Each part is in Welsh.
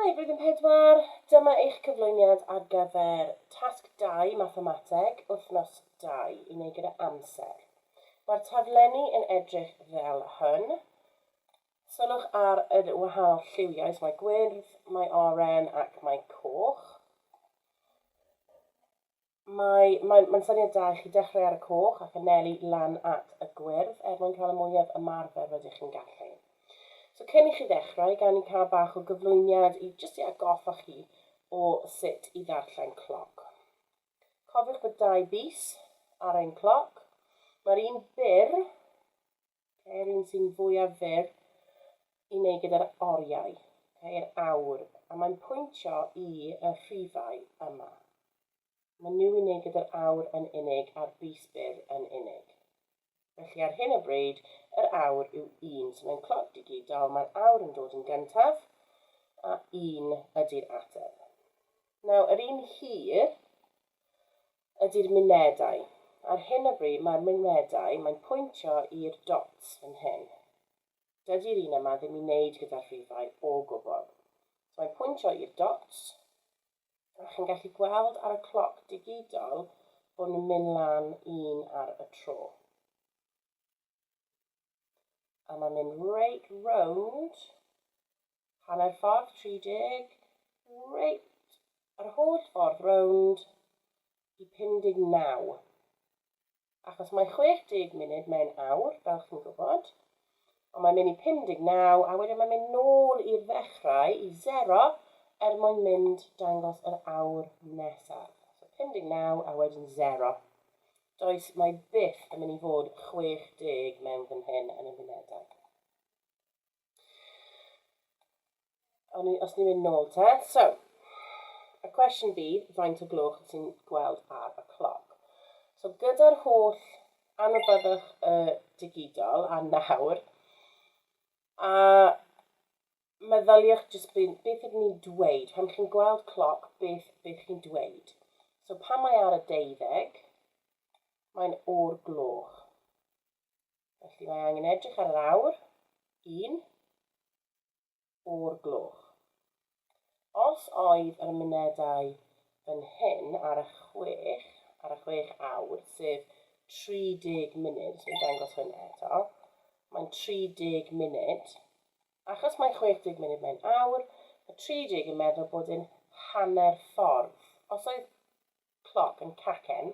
Hi, Blwyddyn Pedwar, dyma eich cyflwyniad ar gyfer Tasg Dau, Mathemateg, Wythnos Dau, i wneud gyda amser. Mae'r taflenni yn edrych fel hyn. Sylwch ar y wahanol lliwiau, mae gwyrdd, mae oren ac mae coch. Mae, mae'n, mae'n syniad da i chi dechrau ar y coch ac anelu lan at y gwyrdd er mwyn cael y mwyaf ymarfer rydych chi'n gallu. So cyn i chi ddechrau, gawn ni cael bach o gyflwyniad i jyst i atgoffa chi o sut i ddarllen cloc. Cofiwch bod dau bys ar ein cloc. Mae'r un byr Ceir un sy'n fwyaf fyr i wneud gyda'r oriau, ceir awr, a mae'n pwyntio i y rhifau yma. Mae nhw i wneud gyda'r awr yn unig a'r bys byr yn unig. Felly ar hyn o bryd, yr awr yw un, so mae'n cloc digidol, mae'r awr yn dod yn gyntaf, a un ydy'r ateb. Nawr, yr un hir, ydy'r mynedau. Ar hyn o bryd mae'r mynedau, mae'n pwyntio i'r dots fan hyn. Dydy'r un yma ddim i wneud gyda'r rhifau o gwbl. So mae'n pwyntio i'r dots, a chi'n gallu gweld ar y cloc digidol bod nhw'n mynd lan un ar y tro. A mae'n mynd reit rownd, hanner ffordd 30, reit yr holl ffordd rownd i 59. Achos mae 60 munud mewn awr, fel chi'n gwybod. Ond mae'n mynd i 59 a wedyn mae'n mynd nôl i'r ddechrau, i 0, er mwyn mynd dangos yr awr nesaf. So 59 a wedyn 0. Does, mae byth yn mynd i fod 60 mewn fan hyn yn yr unedau. O'n i, os ni'n mynd nôl te, so, y cwestiwn bydd, faint o gloch wyt ti'n gweld ar y cloc? So gyda'r holl anwybyddwch y digidol a nawr, a meddyliwch jyst be, beth ydyn ni'n dweud, pan chi'n gweld cloc, beth, beth chi'n dweud. So pan mae ar y deuddeg, mae'n o'r gloch. Felly mae angen edrych ar yr awr, un, o'r gloch. Os oedd yr mynedau yn hyn ar y chwech, ar y chwech awr, sef 30 munud, dwi'n dangos hwnna eto, mae'n 30 munud, Achos mae 60 munud mae'n awr, mae 30 yn meddwl bod e'n hanner ffordd. Os oedd cloc yn cacen,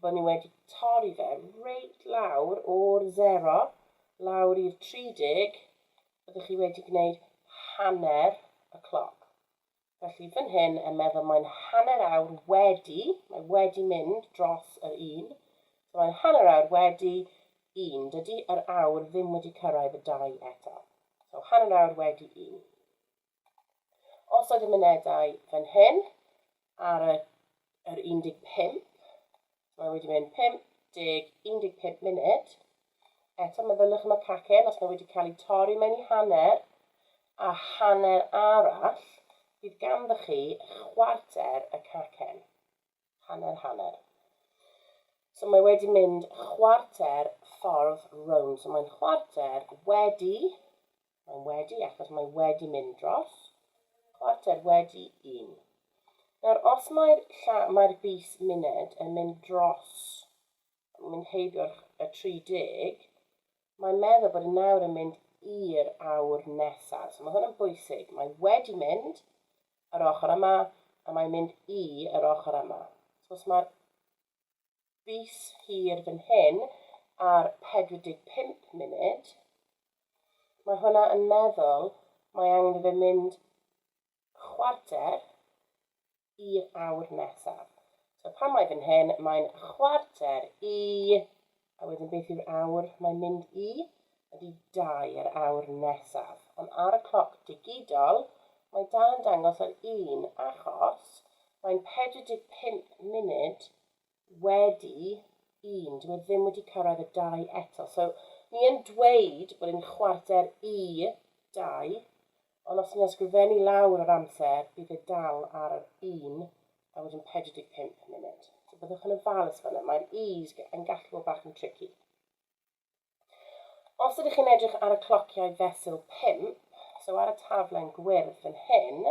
fo' ni wedi torri fe reit lawr o'r sero lawr i'r 30, byddwch chi wedi gwneud hanner y cloc. Felly fan hyn er meddwl mae'n hanner awr wedi, mae wedi mynd dros yr un, so mae'n hanner awr wedi un. Dydy yr awr ddim wedi cyrraedd y dau eto. So hanner awr wedi un. Os oedd y mynedau fan hyn ar y yr 15, mae wedi mynd 50, 15 munud. Eto meddyliwch am y cacen, os mae wedi cael ei torri mae'n ei hanner, a hanner arall, bydd ganddo chi chwarter y cacen. Hanner, hanner. So mae wedi mynd chwarter ffordd rownd. So mae'n chwarter wedi Mae'n wedi, achos mae wedi mynd dros. Chwarter wedi un. Nawr, os mae'r mae bus muned yn mynd dros, yn mynd heibio'r 30, mae'n meddwl bod yn nawr yn mynd i'r awr nesaf. So mae hwn yn bwysig. Mae wedi mynd yr ochr yma, a mae'n mynd i yr ochr yma. So os mae'r fis hir fan hyn ar 45 munud, mae hwnna yn meddwl mae angen i fe mynd chwarter i'r awr nesaf. So pan mae fan hyn, mae'n chwarter i, a wedyn beth yw'r awr mae'n mynd i? Ydy dau yr awr nesaf. Ond ar y cloc digidol, mae dal yn dangos yr un achos mae'n 45 munud wedi un. Dyw e ddim wedi cyrraedd y dau eto. So, ni yn dweud bod e'n chwarter i dau, ond os ni'n ysgrifennu lawr yr amser, bydd e dal ar yr un a wedyn 45 munud. So, byddwch yn ofalus fanna. Mae'r i's yn gallu bod bach yn tricky. Os ydych chi'n edrych ar y clociau fesul 5, so ar y taflen gwyrdd yn hyn,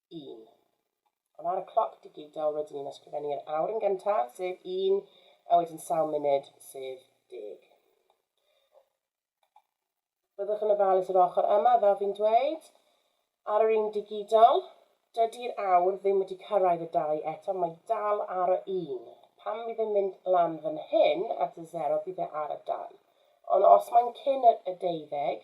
un. Ond ar y cloc digidol rydyn ni'n ysgrifennu'r awr yn gyntaf, sef un, a wedyn sawl munud, sef deg. Byddwch yn ofalus yr ochr yma, fel fi'n dweud, ar yr un digidol, dydy'r awr ddim wedi cyrraedd y dau eto, mae dal ar y un. Pan fydd e'n mynd lan fan hyn at y zero, bydd e ar y dau. Ond os mae'n cyn y deuddeg,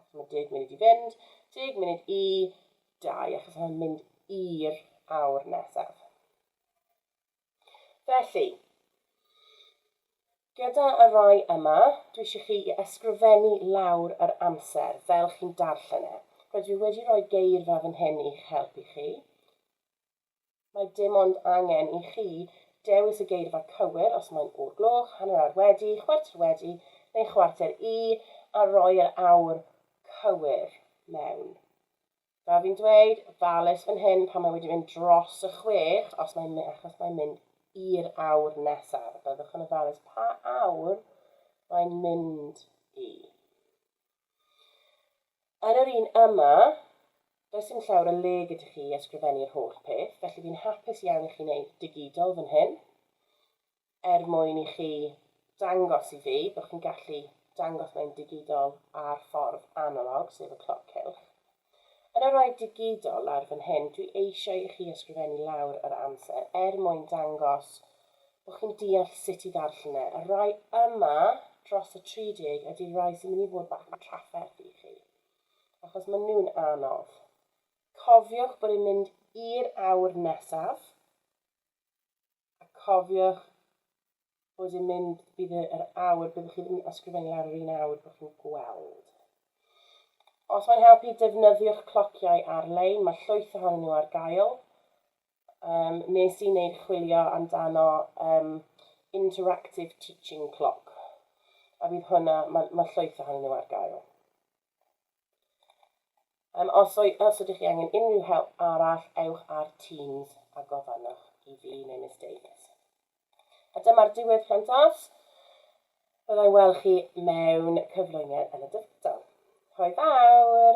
achos mae deg munud i fynd, deg munud i dau, achos mae'n mynd i'r awr nesaf. Felly, gyda y rai yma, dwi eisiau chi i ysgrifennu lawr yr amser fel chi'n darllen e. Rydw i wedi rhoi geirfa fan hyn i'ch helpu chi. Mae dim ond angen i chi dewis y geirfa cywir, os mae'n o'r gloch, hanner awr wedi, chwarter wedi neu chwarter i, a rhoi yr awr cywir mewn. Fel fi'n dweud, falus fan hyn pan mae wedi mynd dros y chwech, os mae'n mynd, achos mae'n mynd i'r awr nesaf, a byddwch yn ofalus pa awr mae'n mynd i. Ar yr un yma, does dim llawr o le gyda chi i ysgrifennu'r holl peth, felly fi'n hapus iawn i chi wneud digidol fan hyn, er mwyn i chi dangos i fi bod chi'n gallu dangos mae'n digidol ar ffordd analog, sef y cloc cylch. Yn yr oed digidol ar fan hyn, dwi eisiau i chi ysgrifennu lawr yr amser er mwyn dangos bod chi'n deall sut i ddarllen e. Y rhai yma dros y 30 ydy'r rhai sy'n mynd i fod bach yn trafferth i chi, achos maen nhw'n anodd. Cofiwch bod e'n mynd i'r awr nesaf. a cofiwch bod yn mynd, bydd yr awr, byddwch chi ddim yn ysgrifennu lawr yr un awr bod chi'n gweld. Os mae'n helpu, defnyddiwch clociau ar-lein, mae llwyth ohonyn nhw ar gael. Um, nes i wneud chwilio amdano um, interactive teaching clock, a bydd hwnna, mae, mae llwyth ohonyn nhw ar gael. Um, os, o'i, os ydych chi angen unrhyw help arall, ewch ar Teams a gofynnwch i fi neu Miss Davies. A dyma'r diwedd plant as. Byddai weld chi mewn cyflwyniad yn y dyfodol. Hoi fawr!